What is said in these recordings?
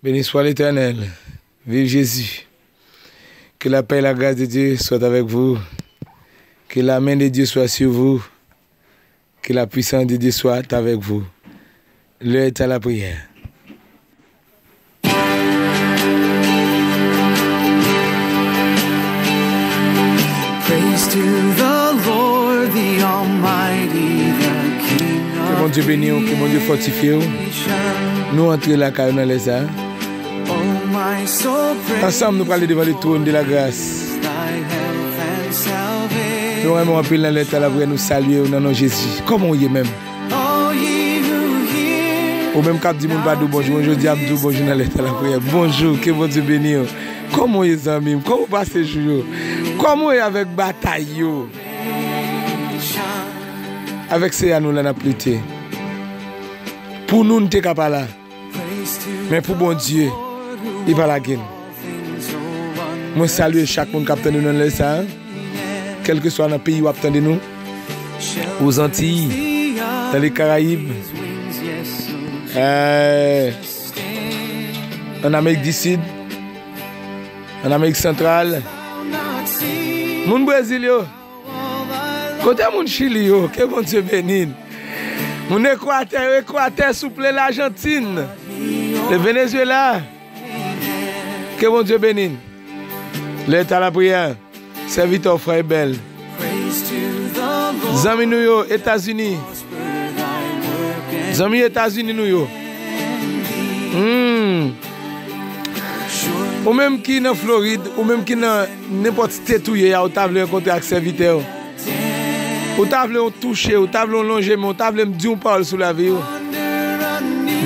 Beni swa letènèl, viv Jezi, ke la pè e la gras de Dye swat avèk vou, ke la men de Dye swa su vou, ke la pwisans de Dye swat avèk vou. Lè è ta la priyè. Ke Bondye beni ou, ke Bondye fòtifye ou. Nou antre lakay ou nan lè sa Ansanm nou prale devan le trône de la gras Nou renmen w anpil nan lè sa la vre nou salye ou nan non Jezi Kòman ou ye menm Ou menm kap di moun pa di w bonjou mwen jodi a m di w bonjou nan lè sa la priyè Bonjou ke Bondye beni w Kòman ou ye zanmi m Kòman ou pase jou yo Kòman ou ye avèk batay yo Avèk Seyè a nou la nap lite. Pou nou n te ka pa la men pou Bondye li pa lage n. Mwen salye chak moun kap tande nou nan lè sa, kèlkeswa nan peyi wap tande nou, o Zantiy, nan le Karayib, an Amerik di Sid, an Amerik Santral, moun Brezil yo. Kote moun chili yo ke bondye beni n. Moun ekwatè yo ekwatè souple lajantin le venezuela ke bondye beni n le eta lapriyè sèvitè w frè ebèl zanmi nou yo etazini zanmi etazini nou yo humm ou menm ki nan florid ou menm ki nan. Nenpòt state ou ye a ou ta vle rankontre ak sèvitè ou. Ou ta vle yon touche, ou ta vle yon lonje men, ou ta vle m di yon pawòl sou lavi ou.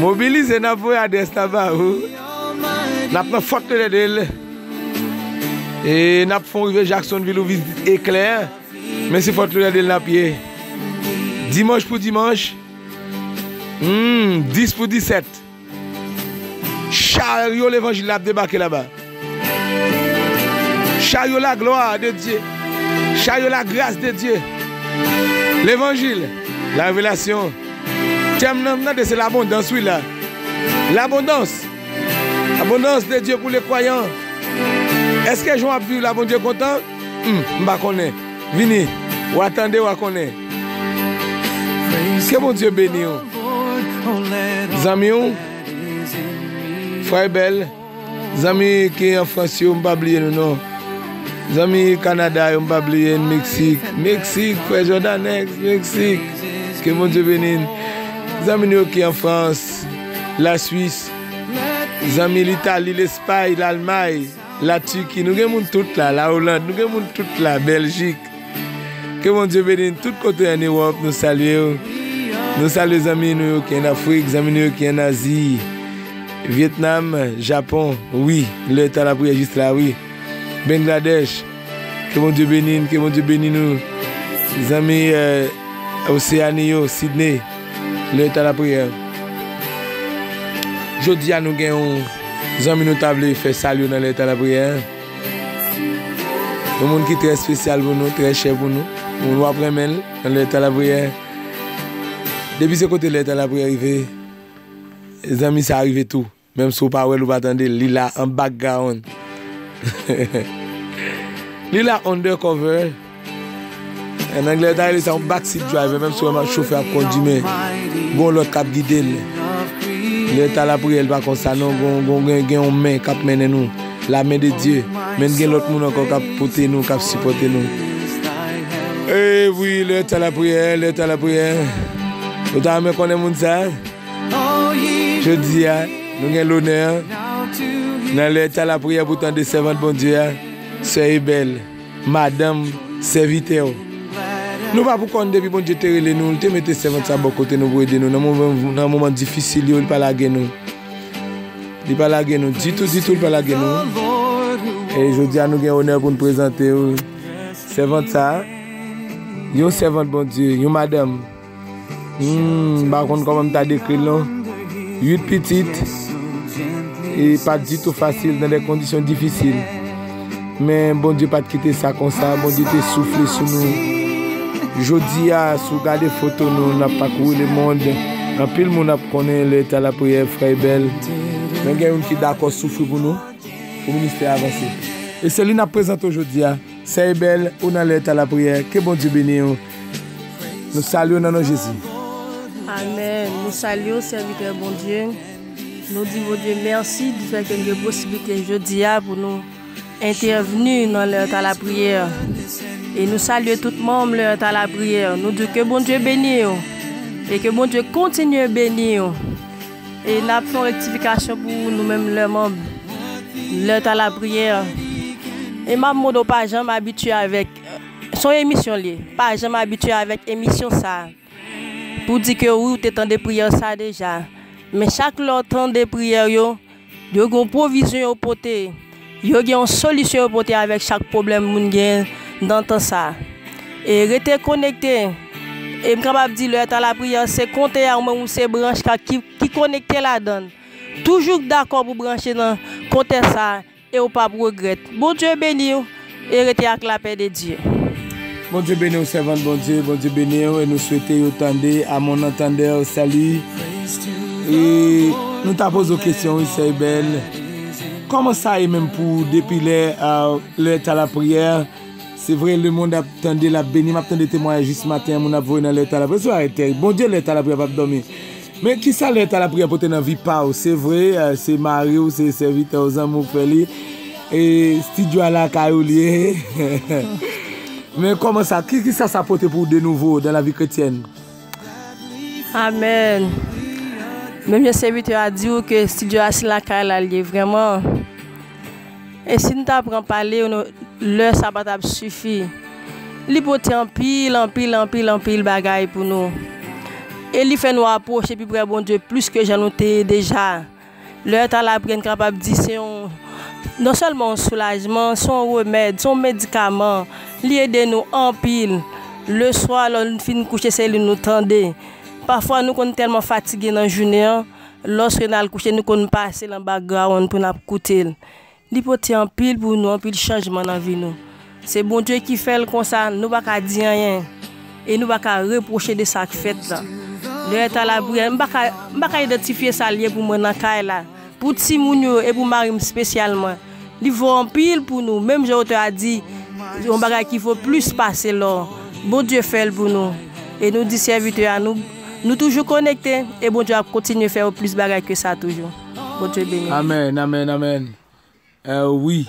Mobilize n ap voye adrès la ba ou. N ap nan Fort Lauderdale e n ap fè yon rive Jacksonville ou vizit Eklè men se Fort Lauderdale n ap ye. Dimanch pou dimanch, humm 10 pou 17. Charyo levanjil la ap debake laba Charyo la glwa de Dye Charyo la gras de Dye Levanjil La revelasyon Tèm nan m tande se labondans wi la Labondans Abondans de Dye pou le kwayan Eske jan w ap viv la Bondye kontan? Humm m pa konnen vini wa tande wa konnen ke bondye beniw zanmiw frè bèl zanmi ki an frans yo m pa bliye nou non zanmi kanada yo m pa bliye n meksik meksik frè jòdanèk meksik ke bondye beni n zanmi nou yo ki an frans la swis zanmi litali lespay lalmay. La Turquie nou gen moun tout la, la Hollande nou gen moun tout la, Belgique ke Bondye beni nou tout kote an Europe nou salyew, nou salye zanmi nou yo ki an Afrique, zanmi nou yo ki an Asie, Vietnam, Japon wi lè tan lapriyè jis la wi, Bengladesh. Ke Bondye beni n, ke Bondye beni nou zanmi Oceanie yo, Sydney, Le Temps de la Prière. Jodi a nou gen yon zanmi nou ta vle fè salye nan Le Temps de la Prière. Yon moun ki trè spesyal pou nou, trè chè pou nou. Moun wap renmen l nan Le Temps de la Prière. Depi se kote Le Temps de la Prière rive, zanmi sa rive tou. Menm si w pa wè l ou pa tande l, li la an background. Li la under cover. An anglè yo ta rele sa yon back seat driver menm si w wè m ap chofè ap kondi men gon lòt k ap gide l. Lè ta lapriyè l pa kon sa non gen yon men k ap mennen nou, la men de Dye men gen lòt moun ankò k ap pote nou k ap sipòte nou. Ee wi lè ta lapriyè lè ta lapriyè. Ou ta renmen konnen moun sa? Jodi a, nou gen lonè an, nan lè tan lapriyè pou tande sèvant Bondye a, sè Ebèl, madanm sèvitè ou. Nou pa pou kont depi Bondye te rele nou, li te mete sèvant sa bò kote nou pou ede nou nan moman difisil yo, li pa lage nou. Li pa lage nou ditou ditou, li pa lage nou. E jodi a nou gen onè pou nou prezante ou sèvant sa, yon sèvant Bondye, yon madanm. M pa konn kòman m ta dekri l non. 8 pitit, e pa t ditou fasil, nan de kondisyon difisil. Men Bondye pa t kite sa konsa, Bondye te soufle sou nou. Jodi a, si w gade foto nou, n ap pakouri lemond, anpil moun ap konnen lè ta lapriyè frè Ebèl. Men gen youn ki dakò soufri pou nou, pou ministè a vanse. E se li n ap prezante w jodi a. Sè Ebel ou nan lè ta la priyè ke Bondye beniw nou salyew nan non Jezi. Amen nou salyew sèvitè Bondye nou di Bondye mèsi di fè ke nou gen posiblite jodia pou nou entèvni nan lè ta la priyè e nou salye tout manm lè ta la priyè nou diw ke Bondye beniw e ke Bondye kontinye beniw. E n ap fè yon rektifikasyon pou nou menm lè manb, lè tan lapriyè. E m ap mande w pa janm abitye avèk, se yon emisyon l ye, pa janm abitye avèk emisyon sa a pou w di ke wi w te tande priyè sa a deja. Men chak lè w tande priyè yo, yo gen yon pwovizyon yo pote. Yo gen yon solisyon yo pote avèk chak pwoblèm moun gen nan tan sa a. E rete konekte. E m kapab di lè tan lapriyè an se konte a ou menm ou se branch ka ki ki konekte ladan l. Toujou dakò pou branche nan konte sa a e ou p ap regrèt. Bondye beni w. E rete ak lapè de Dieu. Bondye beniw sèvant Bondye Bondye beniw e nou swete yo tande a mon entendeur salut e nou ta poze w kesyon wi sè Ebel kòman sa ye menm pou depi lè lè ta lapriyè se vre le mond ap tande lap beni map tande temwayaj jis maten moun ap voye nan lè ta lapriyè se bagay terib Bondye lè ta lapriyè pap dòmi Men ki sa lèt alapriyè pote nan vi pa ou? Se vre, se mari ou, se sèvitè ou, zanmi ou k fè li, e stidyo a lakay ou li ye. Men kòman sa, ki sa sa pote pou ou de nouvo dan lavi kretyèn? Amèn! Menm jan sèvitè a di ou ke stidyo a se lakay la li ye vrèman. E si n ta pran pale yo nou, lè sa pa t ap sifi. Li pote anpil, anpil, anpil, anpil bagay pou nou. E li fè nou apwoche pi pre Bondye plis ke jan nou te ye deja. Lè ta la priyè n kapab di se yon, non sèlman yon soulajman, se yon remèd, se yon medikaman. Li ede nou anpil. Leswa lè n fin kouche se li nou tande. Pafwa nou konn tèlman fatige nan jounen an, Lòske n al kouche, nou konn pase l anba grawonn pou n ap koute l. Li pote anpil pou nou, anpil chanjman nan vi nou. Se Bondye ki fè l konsa, nou pa ka di anyen e nou pa ka repwoche de sa k fèt la. Lè yo t a lapriyè, m pa ka idantifye sa l ye pou mwen nan kay la, pou timoun yo e pou mari m spesyalman. Li vo anpil pou nou, menm jan otè a di, yon bagay ki vo plis pase lò. Bondye fè l pou nou. E nou di sèvitè a nou, nou toujou konekte, e Bondye ap kontinye fè yo plis bagay ke sa toujou. Bondye beni nou. Amen amen amen wi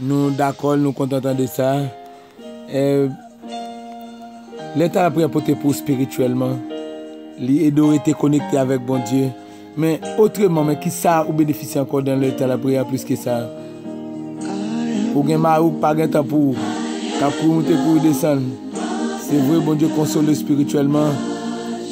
nou dakol nou kontan tande sa. Lè Talapriyè pote pou ou spirityèlman, li ede ou rete konekte avèk Bondye. Men, otreman, men kisa ou benefisye ankò nan lè Talapriyè a plis ke sa? Ou gen mari ou ki pa gen tan pou ou, kap kouri moute kouri desann. Se vre Bondye konsole ou spirityèlman.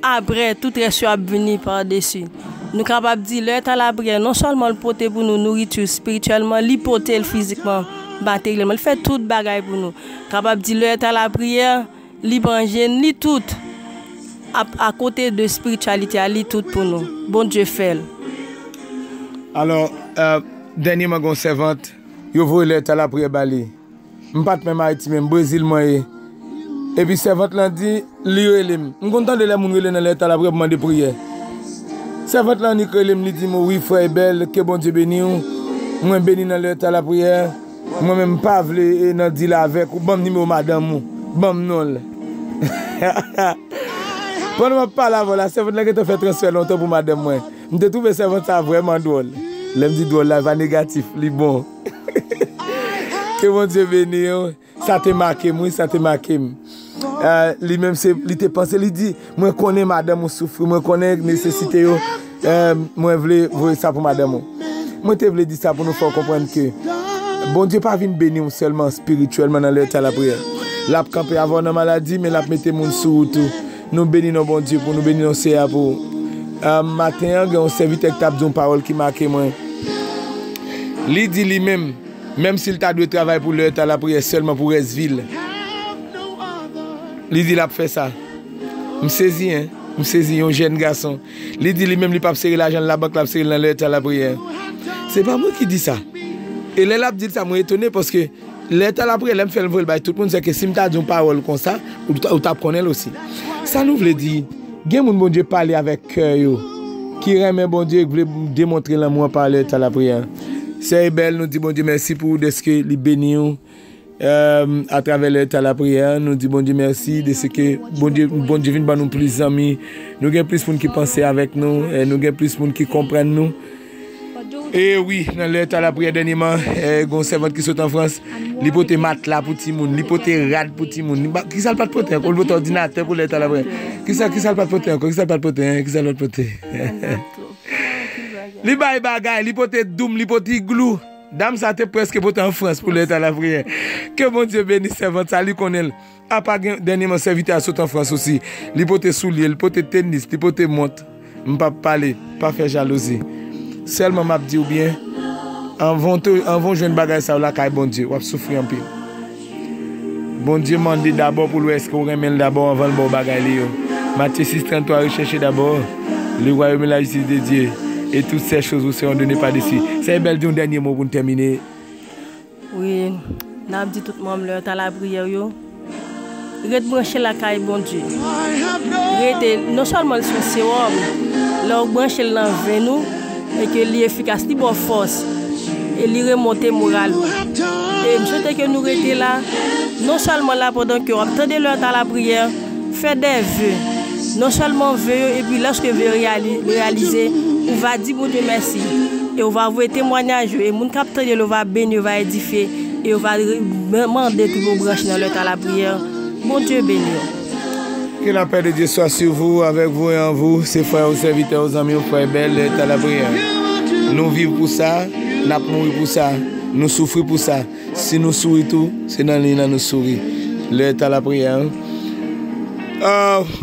Apre, tout rès yo ap vini padesi. Nou kapab di, lè tan lapriyè, non sèlman l pote pou nou nouriti espirityèlman, li pote l fizikman, materyèlman, li fè tout bagay pou nou. Kapab di, lè tan lapriyè, li pran je n, li tout. Ap akote de espirityalite a, li tout pou nou. Bondye fè l. Alò, dènyèman gen yon sèvant, yo voye lè tan lapriyè ba li. M pat menm Ayiti menm, Brezil mwen ye. Epi sèvant lan di, li rele m. M konn tande lè moun rele nan lètal apre pou mande priyè. Sèvant lan annik rele m, li di m, o wi frè Ebèl, ke Bondye beni w. Mwen beni nan lètal lapriyè. Mwen menm m pa vle e nan dil avèk ou, ban m nimewo madanm ou, ban m non l. Pandan m ap pale avè w la, sèvant lan gentan fè transfè lontan pou madanm mwen. M te twouve sèvant sa vrèman dwòl. Lè m di dwòl la, pa negatif, li bon. Ke Bondye beni w. Sa te make m wi, sa te make m. Li menm se, li te panse, li di, mwen konnen madanm ou soufri, mwen konnen nesesite yo, mwen vle voye sa pou madanm ou. Mwen te vle di sa pou nou fè w konprann ke Bondye pa vin beni w sèlman espirityèlman nan lè w te a lapriyè. L ap kanpe avè w nan maladi men l ap mete moun sou ou tou. Nou beni non Bondye pou nou beni non Seyè a pou maten an gen yon sèvitè ki tap di yon pawòl ki make mwen li di li menm menm si li ta dwe travay pou lè ta lapriyè sèlman pou rès vi l li di lap fè sa m sezi hein m sezi yon jèn gason li di li menm li pap sere lajan l nan bank lap sere l nan lè ta lapriyè se pa mwen ki di sa e lè lap di l sa mwen etone paske. Lè tan l ap relè m fè l m voye l bay tout moun, sèke si m ta di yon pawòl konsa, ou t ap konnen l osi. Sa nou vle di, Gen moun Bondye pale avèk kè yo, ki renmen Bondye e ki vle demontre lanmou an pa lè tan lapriyè an. Sè Ebel, nou di Bondye mèsi pou ou dèske li beni ou atravè lè tan lapriyè an. Nou di Bondye mèsi dèske Bondye vin ban nou plis zanmi, nou gen plis moun ki panse avèk nou, nou gen plis moun ki konprann nou. E wi, nan lè ta lapriyè dènyeman, gon sèvant ki sot an Frans, li pote matla pou timoun, li pote rad pou timoun. Ki sa l pat pote ankò? Li pote òdinatè pou lè ta lapriyè. Ki sa ki sa l pat pote ankò? Ki sa l pat pote? Ki sa l pat pote? Li bay bagay, li pote doum, li pote iglou. Dam sa te prèske pote an Frans pou lè ta lapriyè. Ke Bondye beni sèvant sa, li konnen l. Apa gen dènyeman sèvitè a sot an Frans osi, li pote soulye, li pote tenis, li pote mont. M pa p pale, pa fè jalouzi. Sèlman m ap di w byen, anvan w jwenn bagay sa yo lakay Bondye, w ap soufri anpil. Bondye mande dabò pou l wè èske w renmen l dabò anvan l ba w bagay li yo. Matye 6, 33, Recherchez d'abord le royaume et la justice de Dieu, et toutes ces choses vous seront données par-dessus. Sèye Bell di yon dènye mo pou n tèmine. Wi nap di tout manm lè ta lapriyè yo ret branche lakay Bondye rete non sèlman li son sewòm lè ou branche l nan venn ou e ke li efikas li baw fòs e li remonte moral ou e m swete ke nou rete la non sèlman la pandan ke wap tande lè ta lapriyè. Fè dè ve. Non sèlman ve yo epi lèske ve yo reyalize, ou va di Bondye mèsi, e ou va voye temwanyaj yo, e moun k ap tande yo va beni, yo va edifye, e yo va mande pou yo branche nan lè tan lapriyè. Bondye beni w. Ke la pè de Dye swa su vou, avèk vou e an vou, se frè ou, sèvitè ou, zanmi ou, Frè Ebèl, lè tan lapriyè. Nou viv pou sa, n ap mouri pou sa, nou soufri pou sa. Si nou souri tou, se nan liy lan nou souri. Lè tan lapriyè an,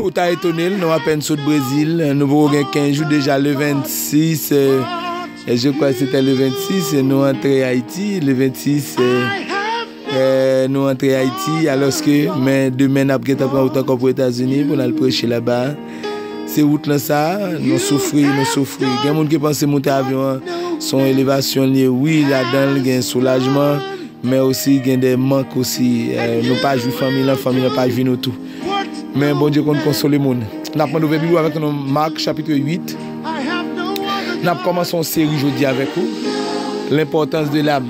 ou ta etone l, nou apèn sot Brezil, nou poko gen 15 jou, deja le 26, je kwa se te le 26, nou antre Ayiti, le 26, nou antre Ayiti, alòske men demen n ap gen tan pran wout ankò pou Etazini pou n al preche laba. Se wout lan sa, nou soufri, nou soufri. Gen moun ki panse moute avyon an son elevasyon li ye. Wi, ladan l gen soulajman, men osi gen de mank osi. Nou pa jwi fanmi lan, fanmi lan pa jwi nou tou. Men Bondye konn konsole moun. N ap mande ouvè Bib ou avèk nou nan Mak chapitre 8. N ap kòmanse yon seri jodi avèk ou, Lenpòtans de lam.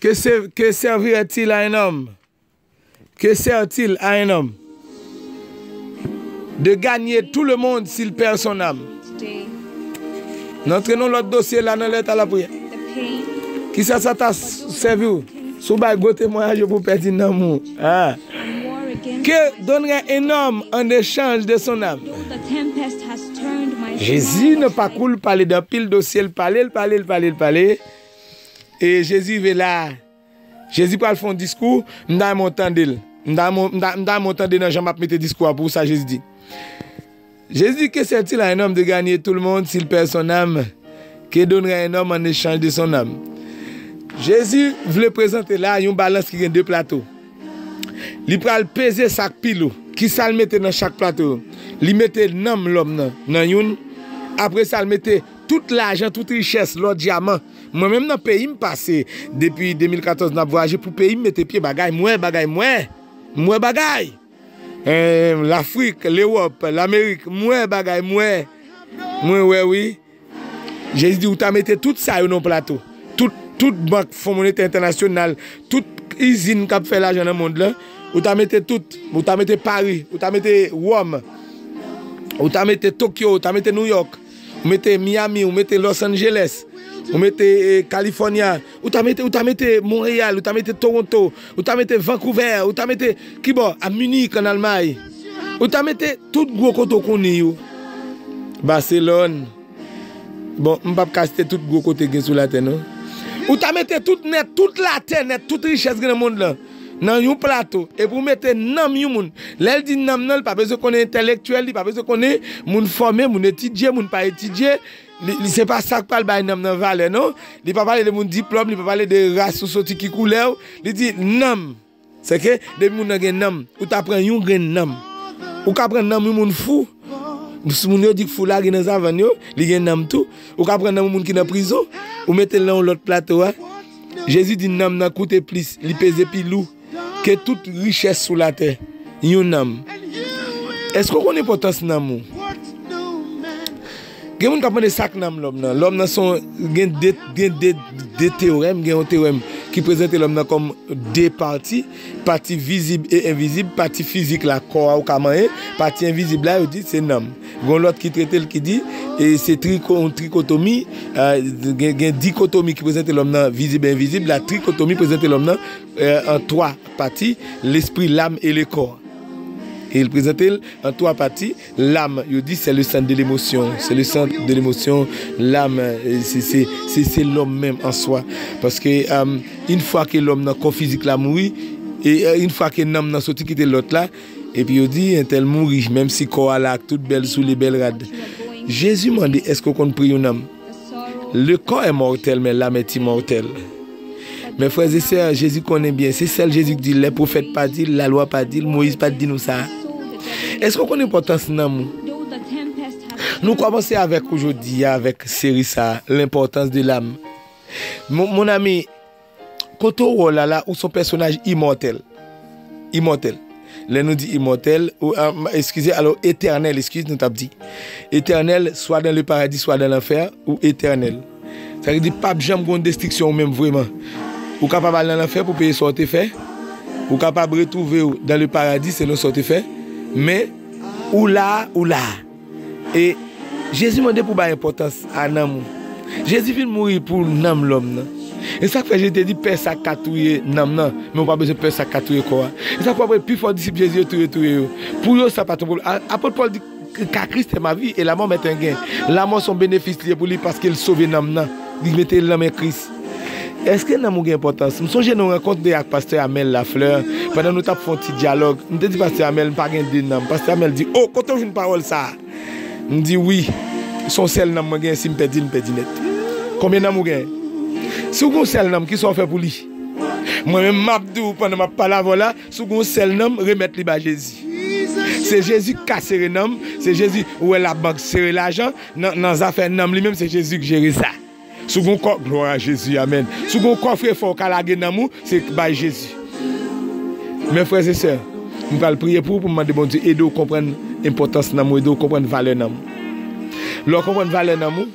Que servir est-il à un homme? Que sert-il à un homme? De gagner tout le monde s'il perd son âme. N antre nan lòt dosye la nan lèt a la priyè. Ki sa sa ta sèvi ou si w bay gwo temwayaj yo pou w pèdi nanm ou? Que donnerait un homme en échange de son âme? Jezi nan pakou l pale de anpil dosye, l pale, l pale, l pale, l pale. E Jezi rive la a. Jezi pral fè yon diskou, m ta renmen w tande l. M ta renmen w tande nan jan m ap mete diskou a pou ou sa Jezi di. Jezi di, Ke sèvtil a enòm de ganye tou l mond si l pè son nanm? Ke donnerai un homme en échange de son âme? Jezi vle prezante la a yon balans ki gen de plato. Li pral peze sa k pi lou. Kisa l mete nan chak plato yo? Li mete nanm lòm nan nan youn, apre sa l mete Tout lajan, tout richès, lò, dyaman. Mwen menm nan peyi m pase depi 2014 nan ap vwayaje pou peyi m mete pye bagay m wè bagay m wè m wè bagay eeh lafrik lewòp lamerik m wè bagay m wè mwen wè wi jezi di ou ta mete tout sa yo nan yon plato tout tout bank fon monetè entènasyonal tout izin kap fè lajan nan mond lan ou ta mete tout ou ta mete pari ou ta mete wòm ou ta mete tokyo ou ta mete nouyòk. Ou mete Miami, ou mete Los Angeles, ou mete eh, California, ou ta mete, ou ta mete Montréal, ou ta mete Toronto, ou ta mete Vancouver, ou ta mete kibò a Munich en Allemagne. Ou ta mete tout gwo kote ou konnen yo. Barcelone. Bon, m pap ka site tout gwo kote gen sou la tè non. Ou ta mete tout nèt, tout la tè nèt, tout richès gen nan mond lan. nan yon plato epi ou mete nanm yon moun, lè l di nanm nan li pa bezwen konnen entèlektyèl, li pa bezwen konnen moun fòme, moun etidye, moun pa etidye, li se pa sa k pral bay nanm nan valè non, li pa pale de moun diplòm, li pa pale de ras ou soti ki koulè ou, li di nanm. Sèke depi moun nan gen nanm, ou ta pran yon grenn nanm. Ou ka pran nanm yon moun fou, moun yo di k fou lage nan savann yo, li gen nanm tou. Ou ka pran nanm yon moun ki nan prizon, ou mete l nan yon lòt plato a. Jezi di nanm nan koute plis, li peze pi lou ke tout richès sou latè. Yon nanm. Èske w konn enpòtans nanm ou? Gen moun k ap mande sa k nanm lòm nan. Lòm nan se yon, gen de teorèm, gen yon teorèm ki prezante lòm nan kòm de pati. Pati vizib e envizib, pati fizik la kò a ou ka manyen, pati envizib la yo di se nanm. Gen yon lòt ki trete l ki di se trikotomi, gen dikotomi ki prezante lòm nan vizib e envizib, la trikotomi prezante lòm nan an 3 pati, lespri, lam e le kò. E l prezante l an 3 pati. Lam, yo di sè le sant de lemosyon, sè le sant de lemosyon, lam, se, se, se, se lòm menm an swa. Paske, am, yn fwa ke lòm nan kò fizik la mouri, e, yn fwa ke nanm nan soti kite lòt la, epi yo di, entèl mouri, menm si kò a la ak tout bèl soulye, bèl rad. Jezi mande, èske w konn pri yon nanm? Le kò è mòrtèl men lam è imòrtèl. Men frè ze sè, Jezi konnen byen, se sèl Jezi k di lè pwofèt pa di l, la lwa pa di l, Moyiz pa t di nou sa a. Eske w konnen enpòtans nanm ou? Nou kòmanse avèk ou jodi a avèk seri sa a, L'importance de l'âme. Mon ami. Kote ou wè w Lala, ou son pèsonaj imòtèl, imòtèl, lè nou di imòtèl, eskize, alò etènèl, eskize nou t ap di, etènèl, swa dan le paradi swa dan lanfè, ou etènèl. Sa vle di pa p janm gen yon destriksyon ou menm vreman. Ou kapab al nan lanfè pou peye sa ou te fè, ou kapab retwouve w dan le paradi selon sa ou te fè, men ou la a, ou la a. E Jezi mande pou bay enpòtans a nanm ou. Jezi vin mouri pou nanm lòm nan. E sa k fè Jezi te di, Pè sa k ka touye nanm nan, men ou pa bezwen pè sa k ka touye kò a. E sa k fè w wè pifò disip Jezi yo tou yo touye yo. Pou yo, sa pa t yon pwoblèm. Apot Pòl di, Car Christ est ma vie et la mort m'est un gain. Lanmò se yon benefis li ye pou li paske l sove nanm nan, li mete l nan men Kris. Èske nanm ou gen enpòtans? M sonje nou rankontre ak pastè Amel Lafleur pandan nou t ap fè yon ti dyalòg. M te di pastè Amel m pa gen de nanm. Pastè Amel di, O! Kote w jwenn pawòl sa a? M di, Wi, se yon sèl nanm mwen genyen, si m pèdi l, m pèdi nèt. Konbyen nanm ou genyen? Si w gen yon sèl nanm, ki sa w fè pou li? Mwen menm m ap di w pandan m ap pale avè w la, si w gen yon sèl nanm, remèt li bay Jezi. Se Jezi ki ka sere nanm, se Jezi, ou wè labank sere lajan, nan zafè nanm li menm se Jezi ki jere sa. Si w gen yon kò, glwa a Jezi, amèn. Si w gen yon kòfrefò ou ka lage nanm ou, se bay Jezi. Men frè e sè, m pral priye pou ou pou m mande Bondye ede w konprann enpòtans nanm ou, ede w konprann valè nanm ou. Lè w konprann valè nanm ou,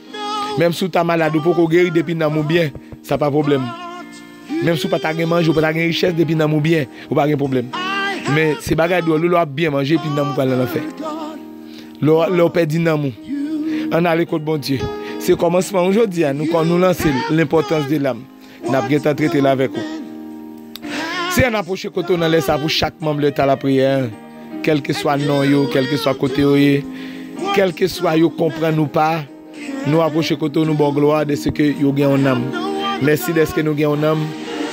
menm si w ta malad ou poko geri depi nanm ou byen, sa pa pwoblèm. Menm si w pa ta gen manje, w pa ta gen richès, depi nanm ou byen, ou pa gen pwoblèm. Men, se bagay dwòl wi lè w ap byen manje epi nanm ou pral nan lanfè. Lè w pèdi nanm ou, an n ale kot Bondye. Se kòmansman wi jodi a, nou nou lanse l, L'importance de l'âme. N ap gen tan trete l avèk ou. Se an n apwoche kote w nan lè sa a pou chak manm Lè Talapriyè an, kèlkeswa non yo, kèlkeswa kote yo ye, kèlkeswa yo konprann ou pa. Nou apwoche kote w nou ba w glwa dèseke yo gen yon nanm mèsi dèske nou gen yon nanm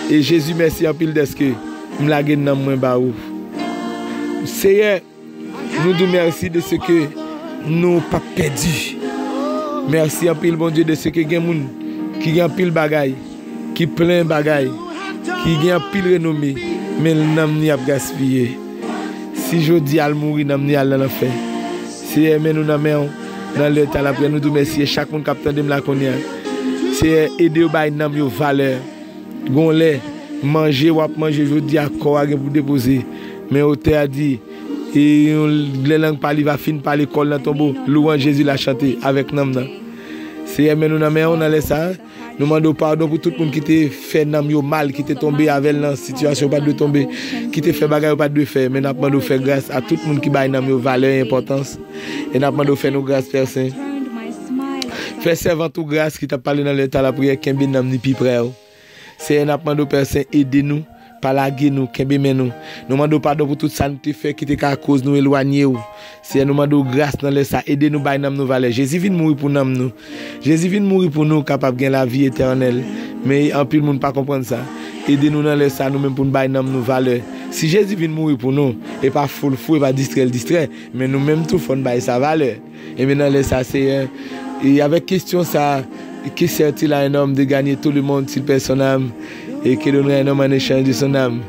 e Jezi mèsi anpil dèske m lage nanm mwen ba ou Seyè nou di w mèsi dèseke nou pa p pèdi mèsi anpil Bondye dèseke gen moun ki gen anpil bagay. ki plen bagay, ki gen anpil renome, men nanm ni ap gaspiye. Si jodi a l mouri, nanm ni al nan lanfè. Seyè, men nou nan men w, nan lè ta l aprè nou di w mèsi e chak moun k ap tande m la kounye a. Seyè, ede yo bay nanm yo valè. Gon lè, manje w ap manje jodi a, kò a gen pou depoze, men otè a di, e yon lè lang pa li va fin pale kò l nan tonbo, lwanj Jezi la chante avèk nanm nan. Seyè, men nou nan men w nan lè sa a. Nou mande w padon pou tout moun ki te fè nanm yo mal, ki te tonbe avè l nan sitiyasyon yo pa t dwe tonbe, ki te fè bagay yo pa t dwe fè. Men n ap mande w fè gras a tout moun ki bay nanm yo valè e enpòtans. E n ap mande w fè nou gras, Pè Sen. Fè sèvant ou gras ki t ap pale nan lè tan lapriyè kenbe nanm li pi pre w. Seyè, n ap mande w, Pè Sen, ede nou. Pa lage nou, kenbe men nou. Nou mande w padon pou tout sa nou te fè ki te ka koz nou elwanye w. Seyè, nou mande w gras nan lè sa. Ede nou bay nanm nou valè. Jezi vin mouri pou nanm nou. Jezi vin mouri pou nou kapab gen lavi etènèl. Men, anpil moun pa konprann sa. Ede nou nan lè sa, nou menm pou n bay nanm nou valè. Si Jezi vin mouri pou nou, e pa foul fou, e pa distrè l distrè, men nou menm tou fò n bay sa valè. Enben nan lè sa, Seyè, e avèk kestyon sa, Que sert-il à un homme de gagner tout le monde s'il perd son âme? Et que donnerait un homme en échange de son âme?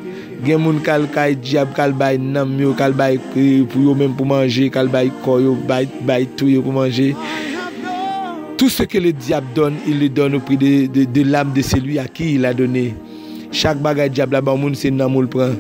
Gen moun k'al kay dyab k'al bay nanm yo, k'al bay pou yo menm pou manje, k'al bay kò yo, bay, bay tou yo pou manje. Tout ce que le diable donne, il le donne au prix de, de, de l'âme de celui à qui il a donné. Chak bagay dyab la ba moun se nanm ou l pran.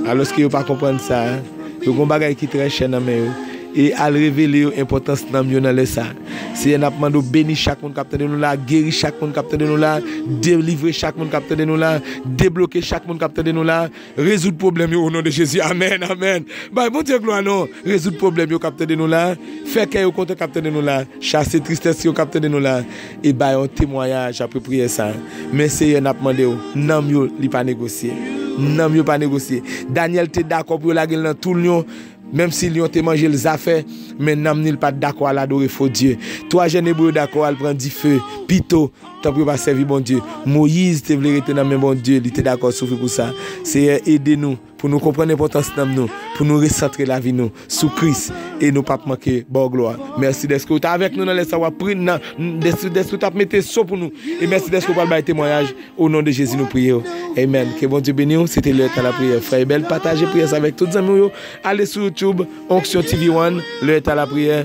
Alòske yo pa konprann sa a, yo gen yon bagay ki trè chè nan men yo. E al revele yo enpòtans nanm yo nan lè sa a. Seyè n ap mande w beni chak moun k ap tande nou la a, geri chak moun k ap tande nou la a, delivre chak moun k ap tande nou la a, debloke chak moun k ap tande nou la a, rezoud pwoblèm yo o non de Jezi amèn amèn bay Bondye glwa non rezoud pwoblèm yo k ap tande nou la a, fè kè yo kontan k ap tande nou la a, chase tristès yo k ap tande nou la a. E bay yon temwayaj apre priyè sa a, Men, Seyè, n ap mande w, nanm yo, li pa negosye. Nanm yo pa negosye. Dànyèl te dakò pou yo lage l nan tou lyon, menmsi lyon te manje l zafè, men nanm ni l pa t dakò al adore fo dye. Twa jèn Ebre yo dakò al pran dife pito, tanpri yo pa sèvi Bondye. Moyiz te vle rete nan men Bondye, li te dakò soufri pou sa. Seyè, ede nou! Pou nou konprann enpòtans nanm nou, pou nou resantre lavi nou sou Kris e nou pap manke baw glwa. Mèsi dèske ou te avèk nou nan lè sa wap pri nan dèske dèske ou tap mete so pou nou e mèsi dèske ou pral bay temwayaj o non de Jezi nou priyew amen ke Bondye beniw se te lè etan lapriyè frè Ebel pataje priyè sa avèk tout zanmiw yo ale sou YouTube onction TV one lè etan lapriyè.